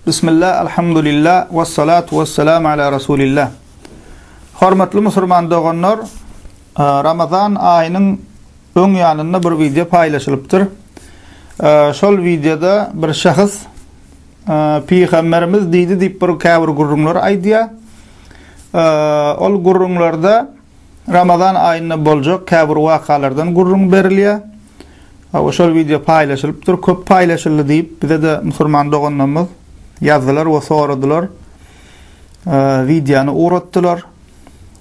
Bismillah, Alhamdulillah, Wassalatu wassalam ala Rasulillah. Hormatly musulman doganlar, Ramazan aýynyň öň ýanynda bir wideo paýlaşylypdyr. Şol wideoda bir şahs Pygamberimiz diýdi diýip bir käbir gürrüňler aýdýar. Ol gürrüňlerde Ramazan aýynda boljak käbir wakalardan gürrüň berilýär. Hawa şol wideo paýlaşylypdyr, köp paýlaşyldy diýip bize-de musurman doganlarymyz ýazdylar we soradylar. Wideony ugratdylar.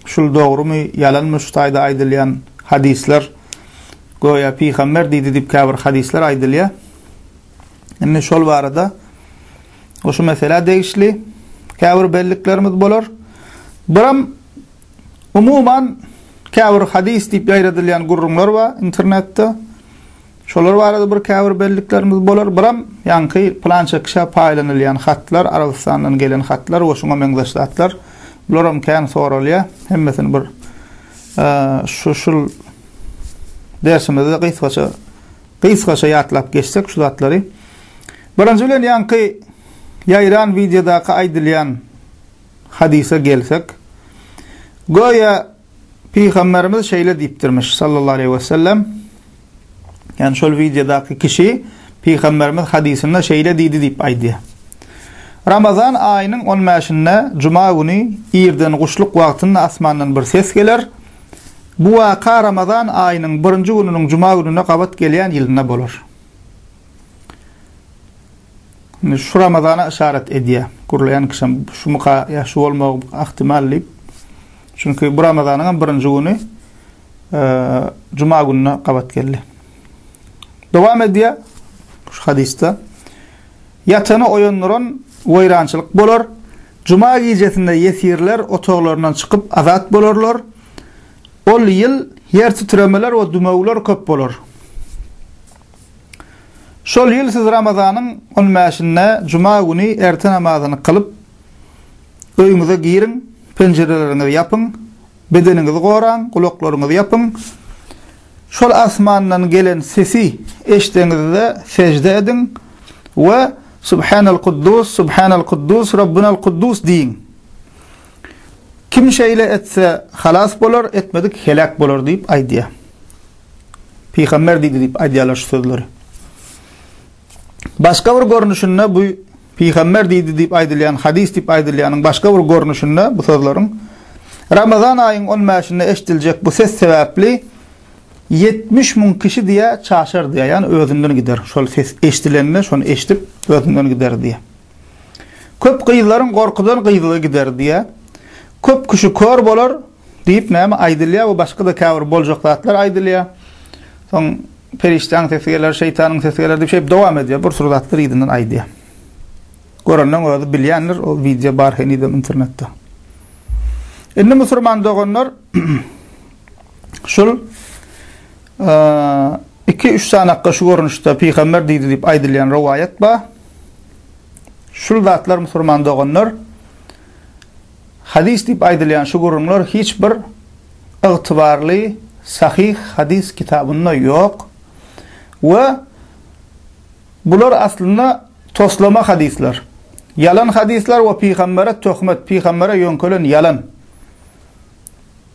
Şul dogrumy, ýalanmy şu taýda aýdylýan hadyslar? Göýä pygamber diýdi diýip käbir hadyslar aýdylýar. Indi şol barada şu meselä degişli käbir belliklerimiz bolar. Biram Umuman, käbir hadys diýip ýaýradylýan gürrüňler bar internetde. Şolar barada bir käbir belliklerimiz bolar. Biram, ýaňky pylança kişä paýlanylýan hatlar, Arabystandan gelen hatlar we şuňa meňzeş zatlar. Bularam kän soralýar. Hemmesini bir şu şul dersimizde gysgaça gysgaça ýatlap geçsek şu zatlary. Birinji bilen ýaňky ýaýran wideodaky aýdylýan hadysa gelsek, göýä Pygamberimiz şeýle diýipdirmiş, sallallahu aleýhi we sellem, ýagny şol wideodaky kişi Pygamberimiz hadysynda şeýle diýdi diýip aýdýar. Ramazan aýynyň on bäşinde, juma güni, irden guşluk wagtynda asmandan bir ses geler. Bu waka Ramazan aýynyň birinji gününiň juma gününe gabat gelýän ýylynda bolar. Indi şu Ramazana yşarat edýär. Gürleýän kişem şumyka ýa şu bolmagy ahtimal diýip. Çünki bu Ramazanyň hem birinji güni juma gününe gabat geldi. Dowam edýär şu hadysda. Ýatany oýandyran weýrançylyk bolar. Juma gijesinde ýesirler otaglaryndan çykyp azat bolarlar. Ol ýyl ýer titremeler we dümewler köp bolar. Şol ýyl siz Ramazanyň on bäşinde juma güni erte namazyny kylyp, öýüňize giriň, penjireleriňizi ýapyň, bedeniňizi goraň, gulaklaryňyzy ýapyň. Şol asmandan gelen sesi eşdeňizde sežde ediň we Subhanal Kuddus, Subhanal Kuddus, Rabbunal Kuddus diýiň. Kim şeýle etse, halas bolar, etmedik heläk bolar diýip aýdýar. Pygamber diýdi diýip aýdýarlar şu sözleri. Başga bir görnüşinde bu Pygamber diýdi diýip aýdylýan hadys diýip aýdylýanyň başga bir görnüşinde bu sözleriň Ramazan aýyň 15-nde eşdiljek bu ses sebäpli 70 müň kişi diýä çaşar diýä, ýani özünden gider. Şol ses eşdilende, şony eşdip özünden gider diýä. Köp gyzlaryň gorkudan gyzlygy gider diýä. Köp kişi kör bolar, Diýip näme aýdylýar we başga-da käbir boljak zatlar aýdylýar. Soň perişdäň sesi geler, şeýtanyň sesi geler diýip şeýdip dowam edýär. Bir sürü zatlar yzyndan aýdýar. Görenleň özi bilýändir, o wideo bar henizem internetde. Indi musurman doganlar şul iki üç sanakka şu görnüşde pygamber diýdi diýip aýdylýan rowaýat bar. Şul zatlar musurman doganlar Hadys diýip aýdylýan şu gürrüňler hiç bir ygtybarly sahyh hadys kitabynda ýok we bular aslynda toslama hadyslar, ýalan hadyslar we pygambere töhmet, pygambere ýöňkelen ýalan.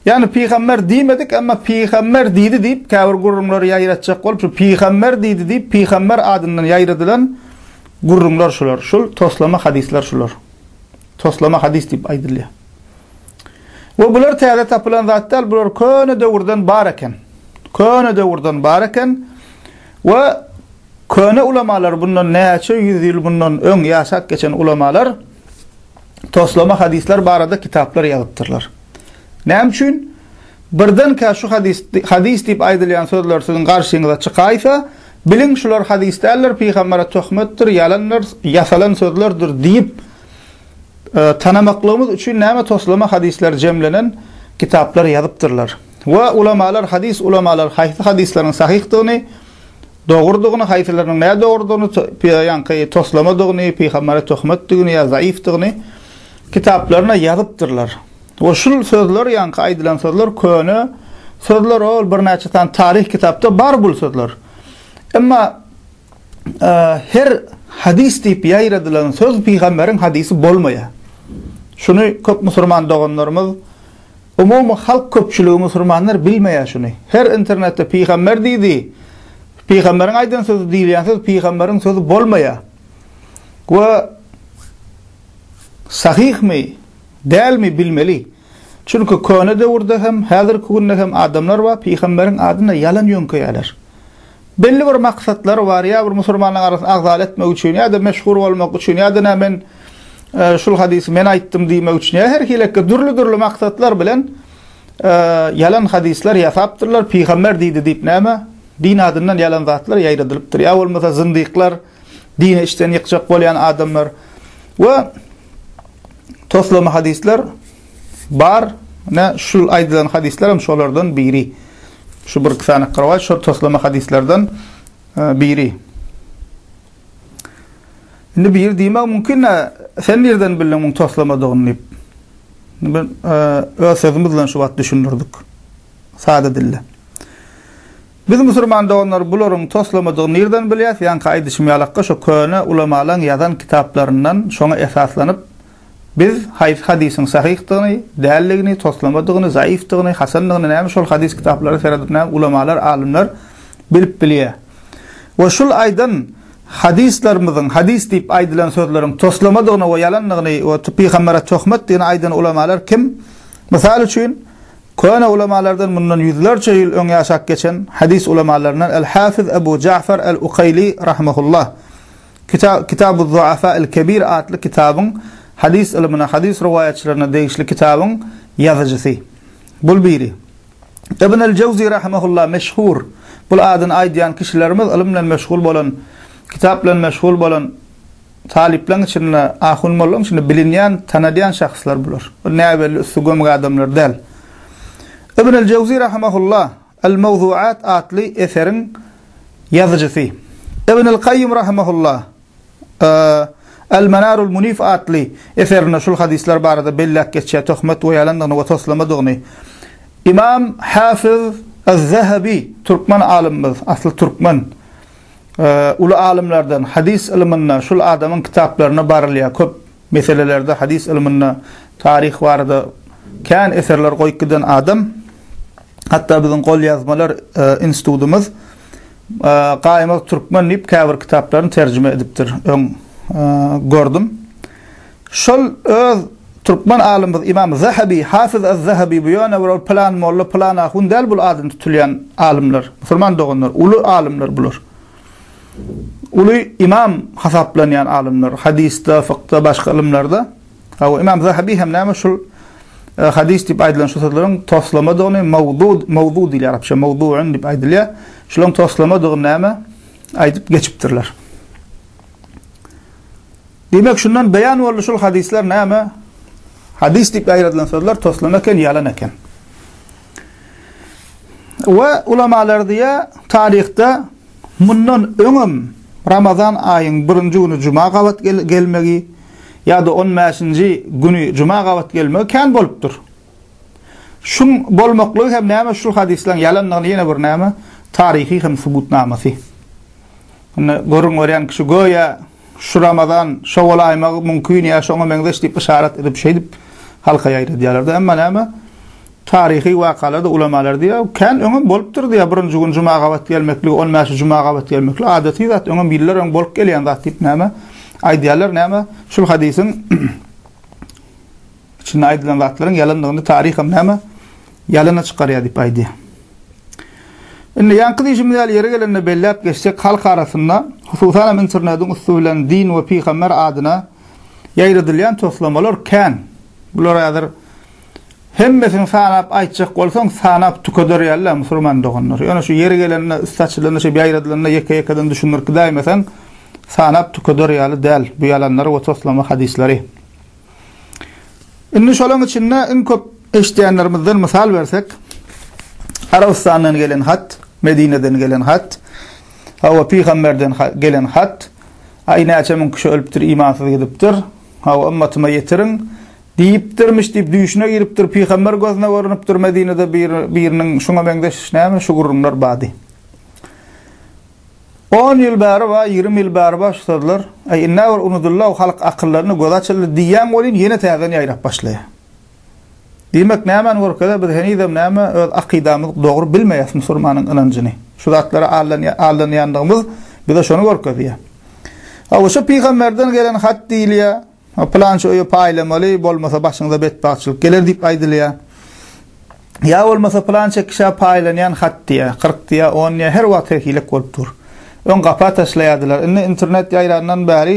Ýagny pygamber diýmedik, emma pygamber diýdi diýip, käbir gürrüňleri ýaýratjak bolup, şu pygamber diýdi diýip, pygamber adyndan ýaýradylan gürrüňler şular. Şul toslama hadyslar şular. Toslama hadys diýip aýdylýar. We bular täze tapylan zat däl, bular köne döwürden bar eken. Köne döwürden bar eken. We köne ulamalar bundan näçe ýüz ýyl bundan öň ýaşap geçen ulamalar toslama hadyslar barada kitaplar ýazypdyrlar. Näme üçin? Birdenkä şu hadys, hadys diýip aýdylýan sözler siziň garşyňyza çykaýsa, biliň şular hadys däldir, pygambere töhmetdir, ýalandyr, ýasalan sözlerdir diýip e, tanamaklygymyz üçin näme toslama hadyslar jemlenen kitaplar ýazypdyrlar. We ulamalar, hadys ulamalar haýsy hadyslaryň sahyhdygyny Dogrudygyny, haýsylarynyň nädogrudygyny, ýaňky toslamadygyny, pygambere töhmetdigini ýa zaýyfdygyny kitaplaryna ýazypdyrlar. We şul sözler, ýaňky aýdylan sözler köne sözler, ol birnäçe sany taryh kitapda bar bul sözler. Emma her hadys diýip ýaýradylan söz pygamberiň hadysy bolmaýar. Şuny köp musurman doganlarymyz. Umumy halk köpçüligi musurmanlar bilmeýär şuny. Her internetde pygamber diýdi, pygamberiň aýdan sözi diýilýän söz pygamberiň sözi bolmaýar. We sahyhmy, dälmi bilmeli. Çünki köne döwürde hem, häzirki günde hem adamlar bar, pygamberiň adyna ýalan ýöňkeýärler. Belli bir maksatlary bar, ýa bir musulmanlaryň arasyny agzaly etmek üçin, ýa-da meşhur bolmak üçin, ýa-da nä men şul hadysy men aýtdym diýmek üçin, ýa her hilekde dürli-dürli maksatlar bilen ýalan hadyslar ýasapdyrlar, pygamber diýdi diýip näme din adyndan ýalan zatlar ýaýradylypdyr, ýa bolmasa zyndyklar, dini içden ýykjak bolýan adamlar we toslama hadyslar bar. Nä şu aýdylan hadyslar hem şolardan biri. Şu bir sany gyrwa şu toslama hadyslardan e, biri. Indi bir diýmek mümkin, sen nirden bildiň muň toslamadygyny diýip. Men e, öz sözüm bilen şu wagt düşündirdik. Sada dilde. Biz musurman doganlar bularyň toslamadygyny nirden bilýäs, ýaňky aýdyşym ýalakka şo köne ulamalaň ýazan kitaplaryndan şoňa esaslanyp biz haýsy hadysyň sahyhdygyny, däldigini, toslamadygyny, zaýyfdygyny, hasandygyny näme şol hadys kitaplara seredip näme ulamalar, alymlar bilip bilýä. We şul aýdan hadyslarymyzyň hadys diýip aýdylan sözleriň toslamadygyny we ýalandygyny we pyhambere töhmetdigini aýdan ulamalar kim? Mysal üçin, Köne ulamalardan mundan ýüzlerçe ýyl öň ýaşap geçen hadys ulamalaryndan Al-Hafiz Abu Ja'far Al-Ukaýli rahimehullah Kita Kitabuz-Zu'afa Al-Kebir atly kitabyň hadys ylmyna, hadys rowaýatçylaryna degişli kitabyň ýazyjysy. Bul biri. Ibn Al-Jawzi rahimehullah meşhur, bul adyny aýdýan kişilerimiz ylym bilen meşgul bolan, kitap bilen meşgul bolan Talyplaň içinde, ahun-mollaň içinde bilinýän, tanadýan şahslar bular. Bir näbelli üsti gömge adamlar däl. Ibn al-Jawzy rahimahullah Al-Mawzuat atly eseriň ýazyjysy. Ibn al-Kaýýum rahimahullah Al-Manarul Munif atly eserinde şul hadyslar barada belläp geçýär, töhmet we ýalandygyny we toslamadygyny. Imam Hafiz Az-Zahabi, türkmen alymymyz, asly türkmen. uly alymlardan hadys ylmynda şul adamyň kitaplarynda barylýar köp meselelerde hadys ylmynda taryh barada kän eserler goýup giden adam hatda biziň golýazmalar institudymyz gaýmak türkmen diýip käbir kitaplaryny terjime edipdir öň gördüm Şol öz türkmen alymymyz Ymam Zahabi, Hafiz az-Zahabi bu ýöne bir ol pylan molla, pylan ahun däl bul adyny tutulýan alymlar, musulman doganlar, uly alymlar bular. Uly ymam hasaplanýan alymlar, hadysda, fykda, başga ylymlarda. Hawa, Ymam Zahabi hem näme şul e, hadys diýip aýdylan şu sözleriň toslamadygyny mawdu, mawdu diýilýär arapça, mawduun diýip aýdylýar. Şularyň toslamadygyny näme aýdyp geçipdirler. Diýmek, şundan beýan boldy şul hadyslar näme? Hadys diýip ýaýradylan sözler toslan eken, ýalan eken. We ulamalar diýýär, taryhda mundan öňem Ramazan aýyň birinji güni juma gabat gelmegi ýa-da on bäşinji güni juma gabat gelmegi kän bolupdyr. Şuň bolmaklygy hem näme şul hadyslaryň ýalandygyny ýene bir näme taryhy hem subutnamasy. Indi görüň görýän kişi göýä Şu Ramazan, şo bolaýmagy mümkin ýa şoňa meňzeş diýip yşarat edip şeýdip halka ýaýradýarlar-da. Emma näme, taryhy wakalarda ulamalar diýýär, kän öňem bolupdyr diýýär, birinji gün juma gabat gelmeklik, on bäşi juma gabat gelmeklik adaty zat, öňem ýyllar öň bolup gelýän zat diýip näme, aýdýarlar, näme, şul hadysyň, içinde aýdylan zatlaryň ýalandygyny taryham näme ýalana çykarýar diýip aýdýar. Indi ýaňky diýşimiz ýaly ýeri gelende belläp geçsek, halk arasynda, hususan hem internetiň üsti bilen din we pygamber adyna ýaýradylýan toslamalar kän. Bular häzir hemmesini sanap aýtjak bolsaň, sanap tükeder ýaly musulman doganlar. Ýöne şu ýeri gelende üsti açylanda, şeýdip ýaýradylanda ýeke-ýekeden düşündirip gidäýmeseň, sanap tükeder ýaly däl bu ýalanlar we toslama hadyslary. Indi şolaryň içinde iň köp eşidýänlerimizden mysal bersek, Arabystandan gelen hat, Medineden gelen hat, hawa, pygamberden gelen hat, aý, näçe müň kişi ölüpdir, imansyz gidipdir, hawa, ymmatyma ýetiriň diýipdirmiş diýip, düýşüne giripdir, pygamber gözüne görnüpdir, Medinede biriniň şuňa meňzeş, näme, şu gürrüňler bady. On ýyl bäri bar, ýigrimi ýyl bäri bar şu sözler. Äý, indä bir unudyl-law, halk akyllandy, gözi açyldy diýýäň welin, ýene täzeden ýaýrap başlaýar. Diýmek, nämäni görkezer, biz henizem näme, öz akydamyzy dogry bilmeýäs, musurmanyň ynanjyny, şu zatlara aldanýandygymyz bize şony görkezýär. Hawa, şu pygamberden gelen hat diýilýär. Pylança öýe paýlamaly, bolmasa başyňyza betbagtçylyk geler diýip aýdylýar. Ýa bolmasa pylança kişä paýlanýan hat diýýär, kyrk diýýär, on diýýär, her wagt her hilek bolup dur. Öň gapa taşlaýardylar, indi internet ýaýrandan bäri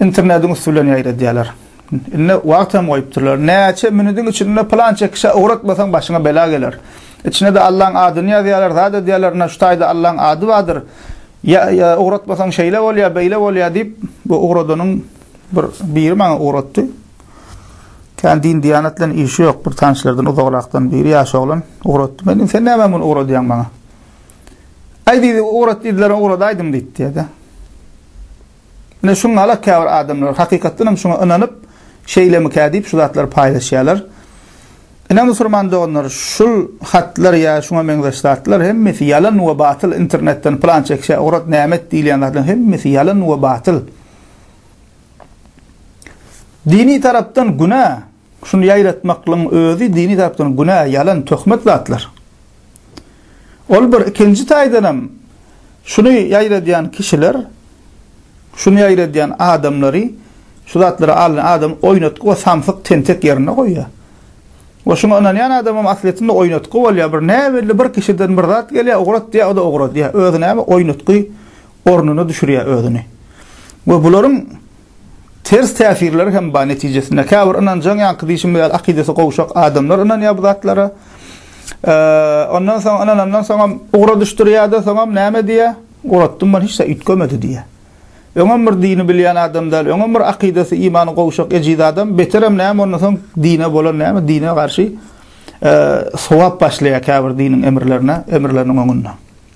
internediň üsti bilen ýaýradýarlar. Indi wagt hem goýupdyrlar. Näçe minüdiň içinde pylança kişä ugratmasaň başyňa bela geler. Içine-de Allaň adyny ýazýarlar, zat edýärler, ine, şu taýda Allaň ady bardyr. Ýa, ýa, ugratmasaň şeýle bolýar, beýle bolýar diýip, bu ugradanyň bir biri maňa ugratdy. Kän din-diýanat bilen işi ýok, bir tanyşlardan uzagrakdan biri, ýaş oglan ugratdy. Men, sen näme muny ugradýaň maňa? Aý, diýdi, ugrat diýdiler, ugradaýdym diýdi, diýdi. Ine, şuňa-la käbir adamlar, hakykatdan hem şuňa ynanyp, şeýlemikä diýip, şu zatlary paýlaşýarlar. Ine, musurman doganlar, şul hatlar ýa şuňa meňzeş zatlar hemmesi ýalan we batyl, internetden pylança kişä ugrat, näme et diýilýän zatlaryň hemmesi ýalan we batyl. Dini tarapdan günä, Şuny ýaýratmaklygyň özi dini tarapdan günä, ýalan, töhmet zatlar. Ol bir, ikinji taýdanam şuny ýaýradýan kişiler, şuny ýaýradýan adamlary, şu zatlary alan adam oýnatgy we samsyk, tentek ýerinde goýýar. We şuňa ynanýan adamam aslyýetinde oýnatgy bolýar, bir näbelli bir kişiden bir zat gelýär, ugrat diýýär, o-da ugradýar. Özi näme, oýnatgy, ornuna düşürýär özüni. We bularyň ters täsirleri hem bar netijesinde. Käbir ynanjaň ýaňky diýşim ýaly akydasy gowşak adamlar ynanýar bu zatlara. Ondan soň ynanandan soňam ugra düşdürýär-de, soňam näme diýýär? Guratdym men hiç zat üýtgemedi diýýär. Öňem bir dini bilýän adam däl, öňem bir akydasy, imany gowşak ejiz adam, beterem näme ondan soň dine bolan näme, dine garşy sowap başlaýar käbir diniň emirlerine, emirleriniň öňünde.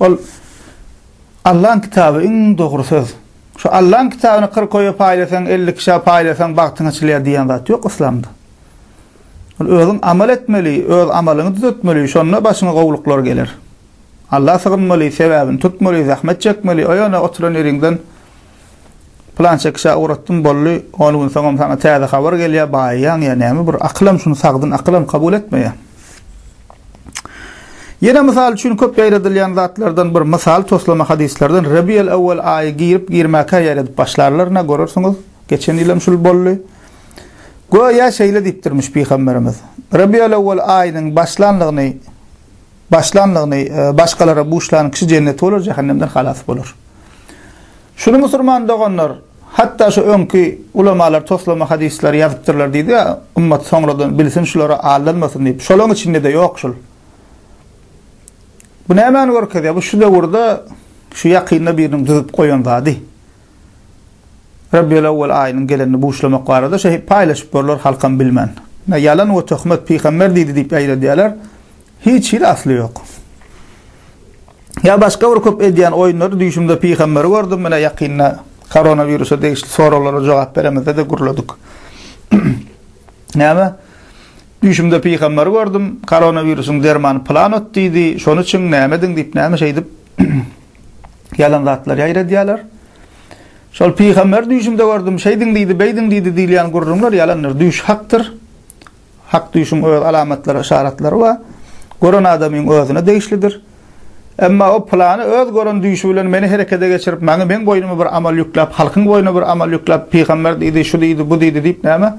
Ol Allaň kitaby iň dogry söz. Şu Allaň kitabyny kyrk oýa paýlasaň, elli kişä paýlasaň bagtyň açylýar diýen zat ýok yslamda. Ol özüň amal etmeli, öz amalyňy düzetmeli, şonda başyňa gowluklar geler. Alla sygynmaly, sebäbini tutmaly, zähmet çekmeli, oýana oturan ýeriňden Pylança kişä ugratdyň, boldy, on gün soňam saňa täze habar gelýär, baýaýaň ýa näme bir, akylam şuny sagdyn akylam kabul etmeýär. Ýene mysal üçin köp ýaýradylýan zatlardan bir mysal toslama hadyslardan Rebiýel Ewwel aýy girip-girmäkä ýaýradyp başlarlar, nä görersiňiz, geçen ýylam şul boldy. Göýä şeýle diýipdirmiş Pygamberimiz, Rebiýel Ewwel aýynyň başlanlygyny başlanlygyny başgalara buşlan kişi jenneti bolar, jähennemden halas bolar. Şuny musurman doganlar, hatda şu öňki ulamalar toslama hadyslary ýazypdyrlar diýdi, ymmat soňradan bilsin şulara aldanmasyn diýip. Şolaň içinde-de ýok şul. Bu nämäni görkezýär? Bu şu döwürde şu ýakynda biriniň düzüp goýan zady. Rabbiýul awwal aýynyň gelenini buşlamak barada şeýle paýlaşyp görler halkam bilmän. Ýalan we töhmet pygamber diýdi diýip ýaýradýarlar. Hiç hili asly ýok. Ýa başga bir köp edýän oýunlary düýşümde pygamberi gördüm menä ýakynda koronawirusa degişli soraglara jogap beremizde-de gürledik. Näme? Düýşümde pygamberi gördüm, koronawirusyň dermany plan ot diýdi, şony üçin näme ediň diýip näme şeýdip ýalan zatlar ýaýradýarlar. Şol pygamber düýşümde gördüm, şeýdiň diýdi, beýdiň diýdi diýilýän gürrüňler ýalandyr. Düýş hakdyr. Hak düýşüň öz alamatlary, yşaratlary bar. Gören adamyň özüne degişlidir. Emma o pylany öz gören düýşi bilen meni herekede geçirip, maňa meň boýnuma bir amal ýükläp, halkyň boýnuna bir amal ýükläp, pygamber diýdi, şu diýdi, bu diýdi diýip näme?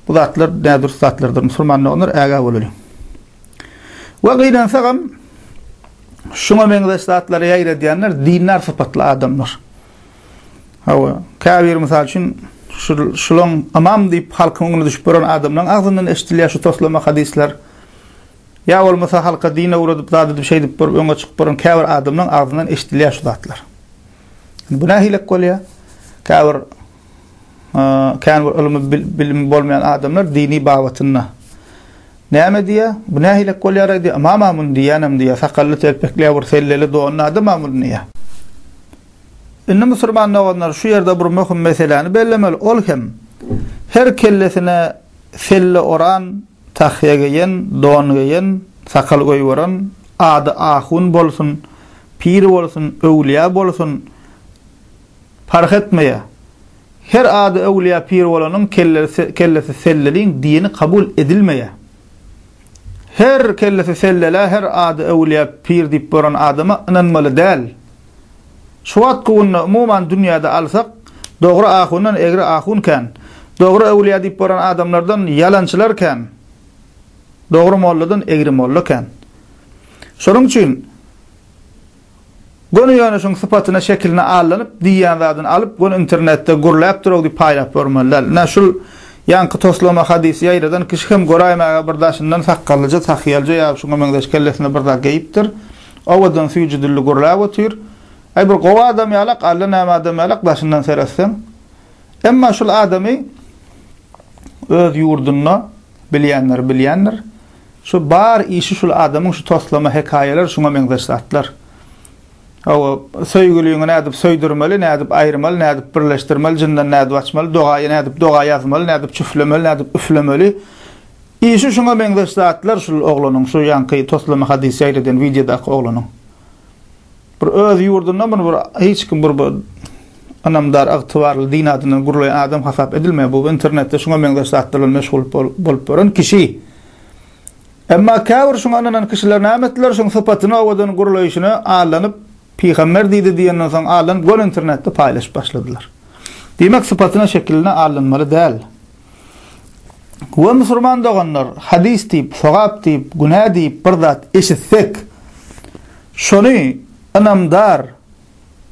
Bu zatlar nädürüst zatlardyr. Musulman doganlar, ägä bolalyň. We gynansagam, şuňa meňzeş zatlary ýaýradýanlar dindar sypatly adamlar. Hawa, käbir mysal üçin, şulaň ymam diýip halkyň öňüne düşüp gören adamlaň agzyndan eşidilýär şu toslama hadyslar. Ýa bolmasa halka din öwredip, zat edip, şeýdip görüp öňe çykyp gören käbir adamlaň agzyndan eşidilýär şu zatlar. Bu nähilek bolýar? Käbir käbir ylmy bilimi bolmaýan adamlar dini babatynda Näme diýýä? Bu nähilek bolýaraý diýýä. Mama muny diýýänem diýýä, sakally telpekleýä bir selleli donly adam-a muny diýýä. Indi musurman doganlar şu ýerde bir möhüm meseläni bellemeli, ol hem her kellesine selle oran, tahýa geýen, don geýen, sakal goýberen, ady ahun bolsun, pir bolsun, öwlüýä bolsun, Parh etmeýär. Her ady öwlüýä pir bolanyň kellesi selleliň dini kabul edilmeýär. Her kellesi sellelä her ady öwlüýä pir diýip boran adama ynanmaly däl. Şu wagtky günde umuman dünýäde alsak dogry ahundan egri ahun kän. Dogry öwlüýä diýip boran adamlardan ýalançylar kän. Dogry molladan egri molla kän. Şonuň üçin. Göni ýöne şuň sypatyna şekiline allanyp diýýän zadyny alyp göni internetde gürläp durag diýip paýlap görmeli däl. Ine şul ýaňky toslama hadysy ýaýradan kişi hem göräýmäge bir daşyndan sakgallyja sahyýalja ýa şuňa meňzeş kellesine bir zat geýipdir. Owadan süýji dilli gürläp otyr. Aý bir gowy adam ýalak alla näme adam ýalak daşyndan seretseň. Emma şul adamy öz ýurdunda bilýänler bilýändir. Şu bar işi şul adamyň şu toslama hekaýalar şuňa meňzeş zatlar. Hawa, söýgüliňi nädip söýdürmeli, nädip aýyrmaly, nädip birleşdirmeli, jyndan nädip açmaly, dogaýy nädip doga ýazmaly, nädip çüflemeli, nädip üflemeli. Işi şuňa meňzeş zatlar şul oglanyň, şu ýaňky toslama hadys ýaýradan wideodaky oglanyň. Bir öz ýurdunda muny bir hiç kim bir ynamdar, ygtybarly, din adyndan gürleýän adam hasap edilmeýär. Bu internetde şuňa meňzeş zatlar bilen meşgul bolup ýören kişi. Emma käbir şuňa ynanan kişiler näme etdiler? Şuň sypatyny owadan gürleýşine allanyp, pygamber diýdi diýenden soň allanyp göni internetde paýlaşyp başladylar. Diýmek, sypatyna, şekiline allanmaly däl. We musurman doganlar, hadys diýip, sogap diýip, günä diýip bir zat eşitsek, şony ynamdar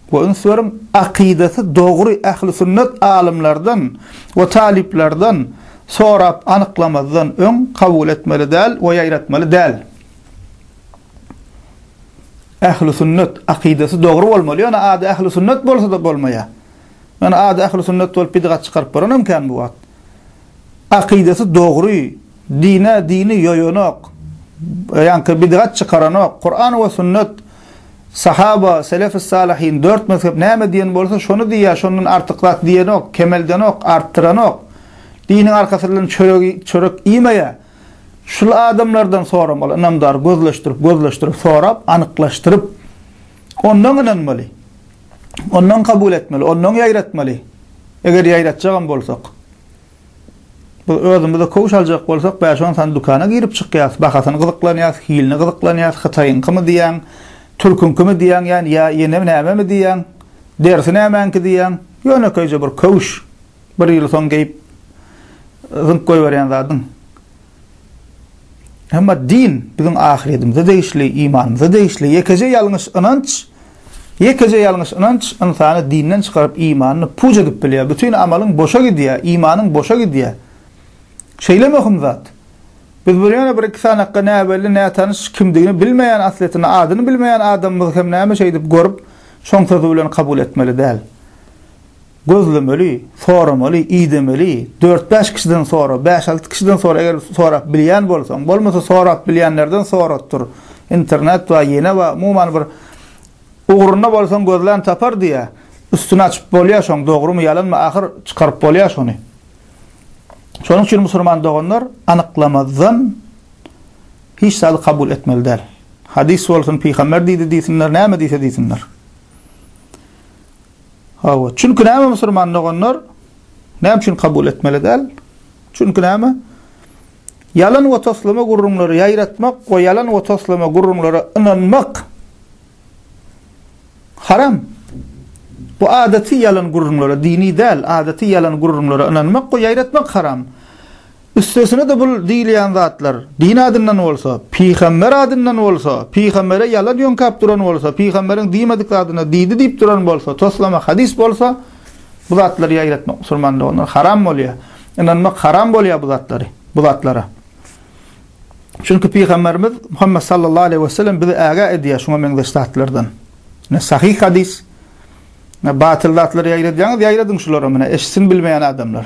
we üns beriň, akydasy dogry ähli sünnet alymlardan we talyplardan sorap anyklamazdan öň kabul etmeli däl we ýaýratmaly däl. Ähli sünnet, akydasy dogry bolmaly, ýöne ady ähli sünnet bolsa-da bolmaýar. Ýöne ady ähli sünnet bolup bidgat çykaryp bolanam kän bu wagt. Akydasy dogry, dine dini ýoýanok, ýaňky bidgat çykaranok, Kuran we sünnet, sahaba, selefis salihin, dört mezhep näme diýen bolsa şony diýýär, şondan artyk zat diýenok, kemeldenok, artdyranok. Diniň arkasy bilen çöregi çörek iýmeýär. Şul adamlardan soramaly, ynamdar gözleşdirip, gözleşdirip sorap, anyklaşdyryp ondan ynanmaly. ondan kabul etmeli, ondan ýaýratmaly, eger ýaýratjagam bolsak. Biz özümize köwüş aljak bolsak, bäş-on sany dükana girip-çykýarys, bahasyny gyzyklanýarys, hilini gyzyklanýarys, hytaýyňkymy diýýäň, türküňkimi diýýäň, ýa ýene nämemi diýýäň, derisi nämäňki diýýäň, ýönekeýje bir köwüş. Bir ýyl soň geýip zyňyp goýberýän zadyň. Emma din biziň ahyretimize degişli, imanymyza degişli. Ýekeje ýalňyş ynanç, ýekeje ýalňyş ynanç ynsany dinden çykaryp, imanyny puç edip bilýär. Bütin amalyň boşa gidýär, imanyň boşa gidýär. Şeýle möhüm zat. Biz bir ýöne bir-iki sanakga näbelli, nätanyş, kimdigini bilmeýän, aslyýetinde adyny bilmeýän adamymyzy hem näme şeýdip görüp, şoň sözi bilen kabul etmeli däl. Gözlemeli, soramaly, idemeli, dört-bäş kişiden sora, bäş-alty kişiden sora eger sorap bilýän bolsaň, bolmasa sorap bilýänlerden soratdyr. Internet bar, ýene bar, umuman bir ugrunda bolsaň gözlän tapar diýýär. Üstüni açyp bolýar şoň dogrymy, ýalanmy ahyr çykaryp bolýar şony. Şonuň üçin musulman doganlar anyklamazdan hiç zady kabul etmeli däl. Hadys bolsun, pygamber diýdi diýsinler, näme diýse diýsinler. Hawa, çünki näme musulman doganlar näme üçin kabul etmeli däl? Çünki näme? Ýalan we toslama gürrüňleri ýaýratmak we ýalan we toslama gürrüňlere ynanmak haram. Bu adaty ýalan gürrüňlere, dini däl, adaty ýalan gürrüňlere ynanmak we ýaýratmak haram. Üstesine-de bul diýilýän zatlar din adyndan bolsa, pygamber adyndan bolsa, pygambere ýalan ýöňkäp duran bolsa, pygamberiň diýmedik zadyna diýdi diýip duran bolsa, toslama hadys bolsa, bu zatlary ýaýratmak musulmanda ondan haram bolýar. Ynanmak haram bolýar bu zatlary, bu zatlara. Çünki pygamberimiz Muhammet sallallahu aleýhi we sellem bizi ägä edýär şuňa meňzeş zatlardan. Ne sahyh hadys, ne batyl zatlary ýaýradýaňyz, ýaýradyň şulary muny eşitsin bilmeýän adamlar.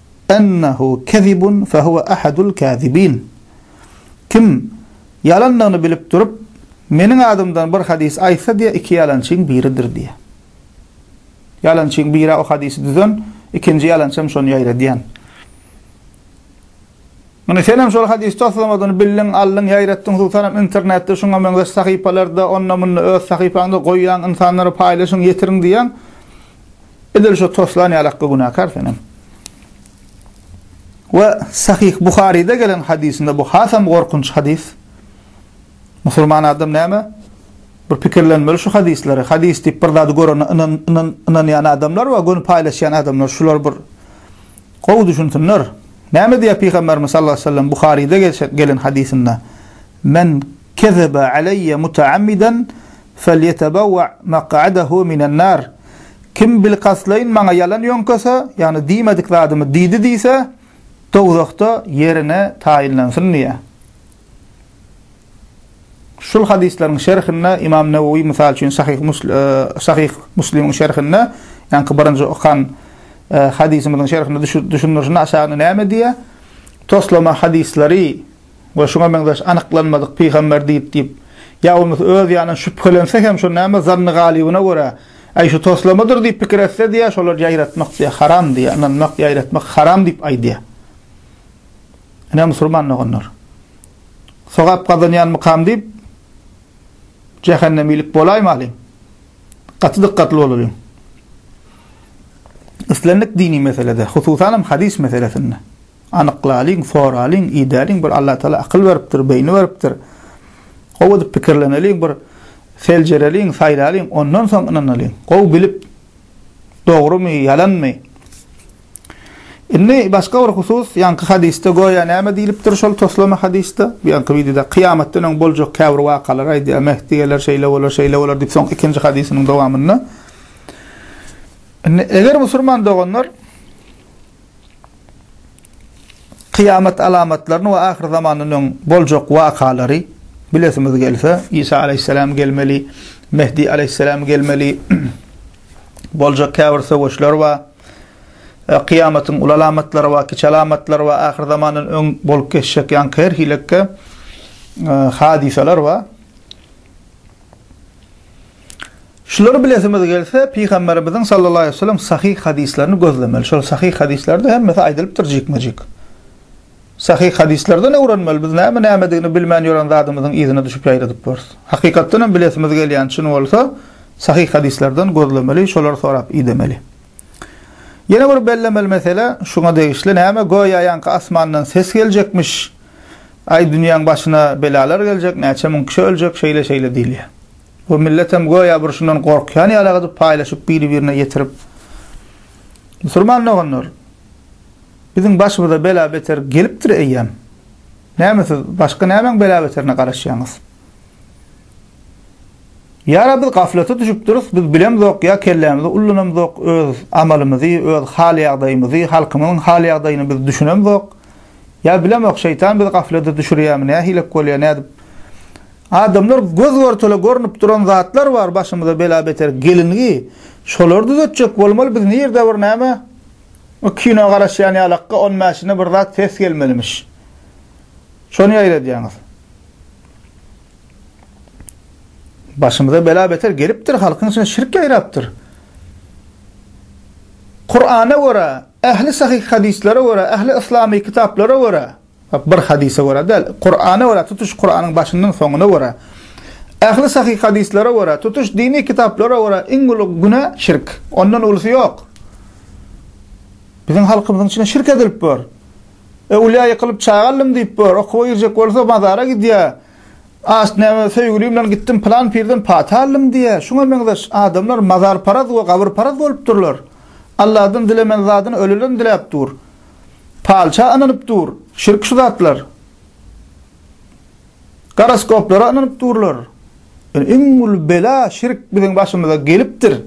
ennehu kezibun fehuwe ahadul kazibin. Kim ýalandygyny bilip durup, meniň adymdan bir hadys aýtsa diýýär, iki ýalançyň biridir diýýär. Ýalançyň biri o hadysy düzen, ikinji ýalançy hem şony ýaýradýan. Ine senem şol hadysy toslamadygyny bildiň, aldyň, ýaýratdyň, hususanam internetde şuňa meňzeş sahypalarda, onda-munda öz sahypaňda goýýaň, ynsanlara paýlaşyň, ýetiriň diýýäň. Edil şu toslan ýalakka günäkär senem. We Sahih Buharide gelen hadisinde bu hasam gorkunç hadis. Musulman adam näme? Bir pikirlenmeli şu hadisleri. Hadis diýip bir zady görene inan inan inanýan adamlar we göni paýlaşýan adamlar şular bir gowy düşünsinler. Näme diýýär Pygamberimiz sallallahu aleyhi ve sellem Buharide gelen hadisinde? Men kezebe aleyye mutaammiden Felýetebewa mak'adahu minen nar, Kim bilkastlaýyn maňa ýalan ýöňkese, ýagny diýmedik zadymy diýdi diýse, dowzahda ýerini taýynlansyn diýýär. Şul hadyslaryň şerhinde Ymam Newewi mysal üçin Sahyh Muslimiň şerhinde, ýaňky birinji okan hadysymyzyň şerhinde düşündirişinde aşagyny näme diýýär, Toslama hadyslary, we şuňa meňzeş anyklanmadyk pygamber diýip diýip, ýa bolmasa öz ýanyndan şübhelense hem şo näme zanny galybyna görä, äý şu toslamadyr diýip pikir etse diýýär, şolary ýaýratmak diýýär, haram diýýär, ynanmak, ýaýratmak haram diýip aýdýar. Ine musulman doganlar. Sogap gazanýanmykam diýip jähennemilik bolaýmalyň. Gaty dykgatly bolalyň. Islendik dini meselede, hususan hem hadys meselesinde. Anyklalyň, soralyň, idäliň, bir Allatagala akyl beripdir, beýni beripdir. Gowy edip pikirleneliň, bir seljereliň, saýlalyň, ondan soň ynanalyň. Gowy bilip, dogrumy, ýalanmy? Indi başga bir husus, ýaňky hadysda göýä näme diýlipdir şol toslama hadysda? Bu ýaňky wideoda kyýamatdan öň boljak käbir wakalary aýdýar. Mehdi geler, şeýle bolar, şeýle bolar diýip, soň ikinji hadysynyň dowamynda. Indi eger musulman doganlar Kyýamat alamatlaryny we ahyr zamandan öň boljak wakalary bilesimiz gelse, Isa aleýhissalam gelmeli, Mehdi aleýhissalam gelmeli, boljak käbir söweşler bar. E, kyýamatyň uly alamatlary bar, kiçi alamatlary bar, ahyr zamandan öň bolup geçjek ýaňky her hilikki e, hadysalar bar. Şulary bilesimiz gelse, Pygamberimiziň sallallahu aleýhi we sellem sahyh hadyslaryny gözlemeli. Şol sahyh hadyslary-da hemmesi aýdylypdyr jikme-jik. Sahyh hadyslardan öwrenmeli. Biz näme nämedigini bilmän ýören zadymyzyň yzyna düşüp ýaýradyp bors. Hakykatdan hem bilesimiz gelýän çyn bolsa, sahyh hadyslardan gözlemeli, şolary sorap idemeli. Ýene bir bellemeli mesele şuňa degişli, näme göýä ýaňky asmandan ses geljekmiş, aý dünýäň başyna belalar geljek, näçe müň kişi öljek, şeýle-şeýle diýilýär. Bu milletem göýä bir şundan gorkýan ýaly agydyp paýlaşyp biri-birine ýetirip Musurman doganlar biziň başymyza bela beter gelipdir eýýäm. Näme siz başga nämäň bela beterine garaşýaňyz. Ýara biz gaflata düşüpdiris biz bilemzok ýa kellämizi ullanamzok öz amalymyzy öz hal ýagdaýymyzy halkymyzyň hal ýagdaýyny biz düşünemzok ýa bilemok şeýtan bizi gaflada düşürýämi nähilek bolýa nädip Adamlar göz görtele görnüp duran zatlar bar başymyza bela beter gelingi şolary düzetjek bolmaly biz nirde bir näme bir kino garaşýan ýalakka on bäşine bir zat ses gelmelimiş şony ýaýradýaňyz başymyza bela beter gelipdir halkyň içine şirk ýaýrapdyr Kur'ana görä ähli sahyh hadyslary görä ähli yslamy kitaplara görä Bir hadysa görä däl, Kurana görä, tutuş Kuranyň başyndan soňuna görä, ähli sahyh hadyslara görä, tutuş dini kitaplara görä iň uly günä şirk. Ondan ulysy ýok. Biziň halkymyzyň içinde şirk edilip bor. Öwlüýä ýykylyp çaga aldym diýip bor, okuwa girjek bolsa mazara gidýär. As näme söýgülim bilen gitdim pylan pirden pata aldym diýýär. Şuňa meňzeş adamlar mazarparaz we gabyrparaz bolup durlar. Allahdan dilemen zadyny ölüden diläp dur. Palça ynanyp dur, şirk şu zatlar. Goroskoplara ynanyp durlar. Ýöne iň uly bela şirk biziň başymyza gelipdir.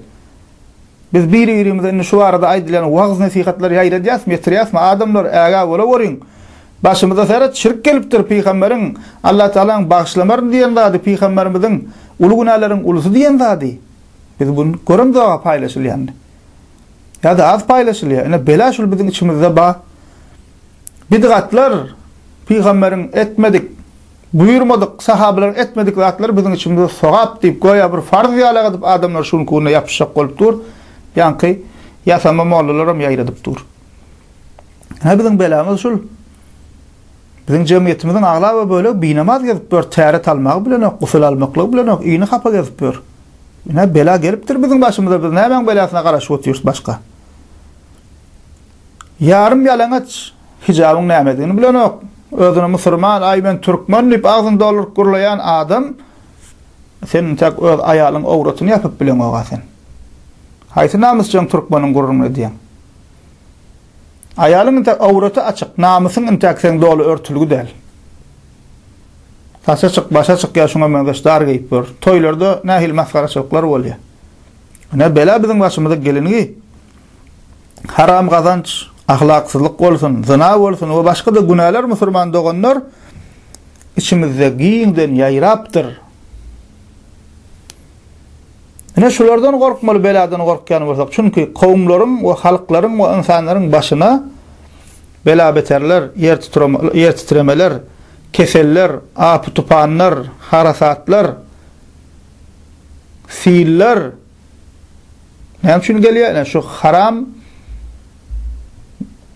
Biz biri-birimize indi şu barada aýdylýan wagyz-nesihatlar ýaýradýasmy, ýetirýäsmi, adamlar ägä bolaweriň. Başymyza seret, şirk gelipdir, pygamberiň, Allah Tagalaň bagyşlamar diýen zady, pygamberimiziň uly günäleriň ulusy diýen zady. Biz bu göremzoga paýlaşylýanyny. Ýa-da az paýlaşylýar. Ine, bela şul biziň içimizde bar. Bidgatlar, pygamberiň etmedik, buýurmadyk, sahabalaryň etmedik zatlary biziň içimizde sogap diýip, göýä bir farz ýalak edip adamlar şuň ugruna ýapyşjak bolup dur. Ýaňky ýasama mollalaram ýaýradyp dur. Ine, biziň belamyz şul. Biziň jemgyýetimiziň aglaba bölegi binamaz gezip ýör, täret almagy bilenok, gusul almaklygy bilenok, ini hapa gezip ýör. Ine, bela gelipdir biziň başymyza, biz nämäň belasyna garaşyp otyrys başga? Ýarym ýalaňaç, hijabyň nämedigini bilenok, özüni musurman, aý men türkmen diýip agzyny dolduryp gürleýän adam, sen intäk öz aýalyň owratyny ýapyp bileňog-a sen. Haýsy namysjaň türkmeniň gürrüňini edýäň? Aýalyň intäk owraty açyk, namysyň intäk seň doly örtülgi däl. Saça çyk, başa çyk ýa şuňa meňzeş dar geýip ýör. Toýlarda nähili masgaraçylyklar bolýar. Ine, bela biziň başymyza gelinigi. Haram gazanç, ahlaksyzlyk bolsun, zyna bolsun we başga-da günäler musurman doganlar içimizde giňden ýaýrapdyr. Ine şulardan gorkmaly beladan gorkýan bolsak, çünki kowumlaryň we halklaryň we ynsanlaryň başyna bela-beterler, ýer titremeler, keseller, apy-tupanlar, harasatlar, siller, Näme üçin gelýär? Ine şu haram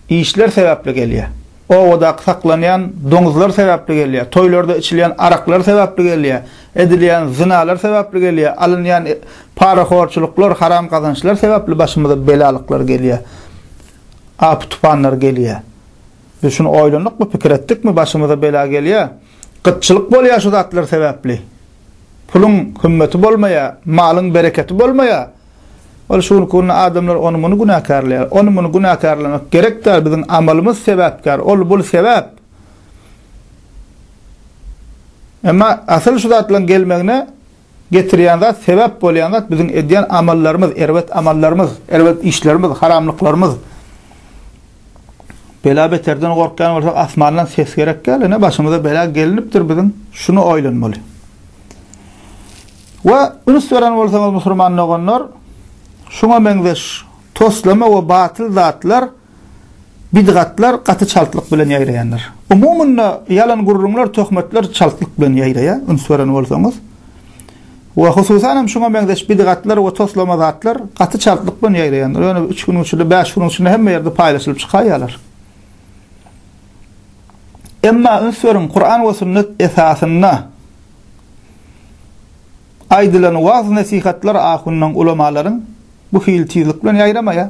işler sebäpli gelýär. Obadaky saklanýan doňuzlar sebäpli gelýär. Toýlarda içilýän araklar sebäpli gelýär. Edilýän zynalar sebäpli gelýär. Alynýan e, parahorçulyklar, haram gazançlar sebäpli başymyza belalyklar gelýär. Apy tupanlar gelýär. Biz şuny oýlandykmy, pikir etdikmi, başymyza bela gelýär. Gytçylyk bolýar şu zatlar sebäpli. Puluň hümmeti bolmaýar, malyň bereketi bolmaýar. Ol şu günki günde adamlar ony-muny günäkärleýär. Ony-muny günäkärlemek gerek däl, biziň amalymyz sebäpkär, ol-bul sebäp. Emma asyl şu zatlaryň gelmegine getirýän zat, sebäp bolýan zat biziň edýän amallarymyz, erbet amallarymyz, erbet işlerimiz, haramlyklarymyz. Bela-beterden gorkýan bolsak, asmandan ses gerek däl, ine, başymyza bela gelnipdir biziň, şuny oýlanmaly. We üns beren bolsaňyz, musulman doganlar, şuňa meňzeş toslama we batyl zatlar, bidgatlar gaty çaltlyk bilen ýaýraýandyr. Umumyny, ýalan gürrüňler, töhmetler çaltlyk bilen ýaýraýar, üns beren bolsaňyz. We hususan hem şuňa meňzeş bidgatlar we toslama zatlar gaty çaltlyk bilen ýaýraýandyr. Ýöne üç günüň içinde, bäş günüň içinde hemme ýerde paýlaşylyp çykaýýarlar. Emma üns beriň, Kuran we Sünnet esasynda aýdylan waaz-nesihatlar ahunlaň, ulamalaryň bu hili tizlik bilen ýaýramaýar.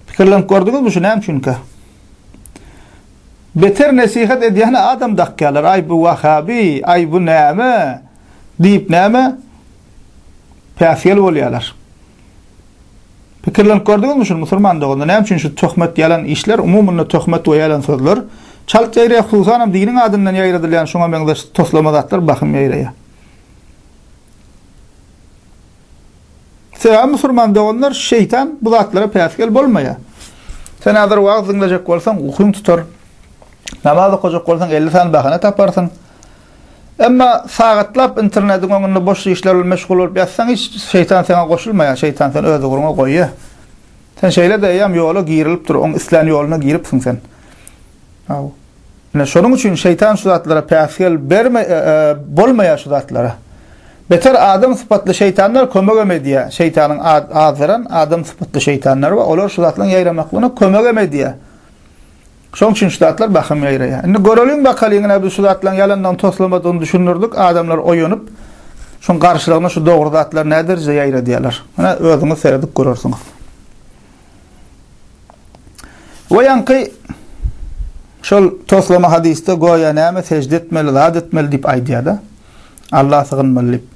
Pikirlenip gördüňizmi şu näme üçinkä? Beter nesihat edýän adam dakýarlar, aý bu wahabi, aý bu näme diýip näme päsgel bolýarlar. Pikirlenip gördüňizmi şuny musulman doganlar, näme üçin şu töhmet ýalan işler, umumyny töhmet we ýalan sözler çalt ýaýraýar, hususanam diniň adyndan ýaýradylýan şuňa meňzeş toslama zatlar bahym ýaýraýar. Sebäbi musulman doganlar şeýtan bu zatlara päsgel bolmaýar. Sen häzir wagyz diňlejek bolsaň ukyň tutar. Namaz okajak bolsaň elli sany bahana taparsyň. Emma sagatlap internetiň öňünde boş işler bilen meşgul bolup ýatsaň hiç şeýtan saňa goşulmaýar, şeýtan seni öz ugruňa goýýar. Sen şeýle-de eýýäm ýola girilipdir, oň islän ýoluna giripsiň sen. Aw. Ine, şonuň üçin şeýtan şu zatlara päsgel berme, bolmaýar şu zatlara. Beter adam sypatly şeýtanlar kömegem edýär. Şeýtanyň azdyran adam sypatly şeýtanlary bar. Olar şu zatlaryň ýaýramaklygyna kömegem edýär. Şonuň üçin şu zatlar bahym ýaýraýar. Indi göreliň bakalyň, ine biz şu zatlaryň ýalandygyny, toslamadygyny düşündirdik. Adamlar oýanyp, şoň garşylygyna şu dogry zatlar näderejede ýaýradýarlar. Ine, özüňiz seredip görersiňiz. We ýaňky şol toslama hadysda goýa näme sežde etmeli, zat etmeli diýip aýdýar-da. Alla sygynmaly diýip.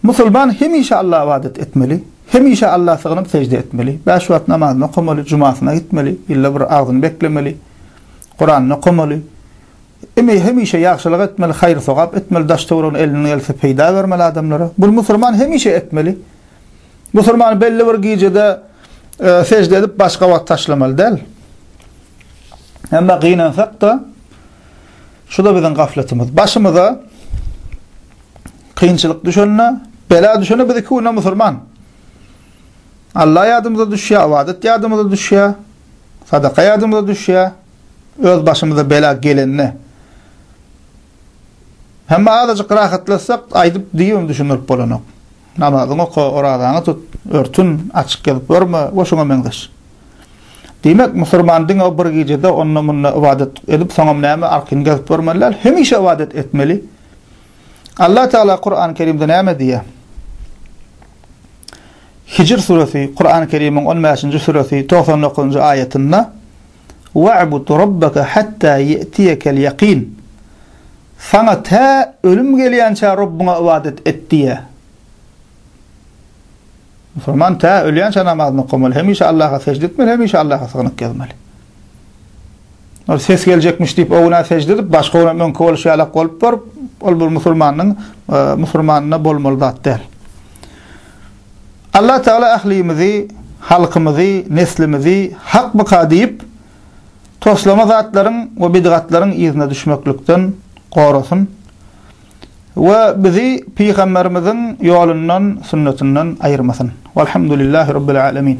Musulman hemişe Alla ybadat etmeli, hemişe Alla sygynyp sežde etmeli, bäş wagt namazyny okamaly, jumasyna gitmeli, ýylda bir agzyny beklemeli, Kuranyny okamaly, hemişe ýagşylyk etmeli, haýyr-sogap etmeli, daş-töweregine elinden gelse peýda bermeli adamlara. Bunu musulman hemişe etmeli. Musulman belli bir gijede sejde edip başga wagt taşlamaly däl. Emma gynansak da şu da biziň gafletimiz. Başymyza kynçylyk düşende, bela düşende biz iki güne musulman. Allah ýadymyza düşýär, awadat ýadymyza düşýär, sadaka ýadymyza düşýär, öz başymyza bela gelende. Hemme azajyk rahatlasak, aýdyp diýim düşündirip bolanok. Namazyňy oka, orazaňy tut, örtün açyk gezup ýörme we şuňa meňzeş. Diýmek, musurman diňe o bir gijede onda-munda ybadat edip, soňam näme arkyny gezup ýörmeli däl, hemişe ybadat etmeli. Allah Tagala Kurany Kerimde näme diýýär? Hijr suresi, Kurany Kerimiň on bäşinji suresi, togsan dokuzynjy aýatynda, Wa'bud Rabbaka hatta ye'tiyekel yakin. Saňa tä ölüm gelýänçä Rabbyňa ybadat et diýýär. Musulman tä ölýänçä namazyny okamaly, hemişe Allaha sežde etmeli, hemişe Allaha sygnyk ýazmaly. Ol ses geljekmiş diýip, o güne sežde edip, başga güne öňki bolşy ýalak bolup baryp, ol bir musulmanyň e, musulmanyna bolmaly zat däl. Allah Tagala ählimizi, halkymyzy, neslimizi hak bka diýip, toslama zatlaryň we bidgatlaryň yzyna düşmeklikden gorasyn we bizi Pygamberimiziň ýolundan, sünnetinden aýyrmasyn. Walhamdulillahi Rabbil Alemin.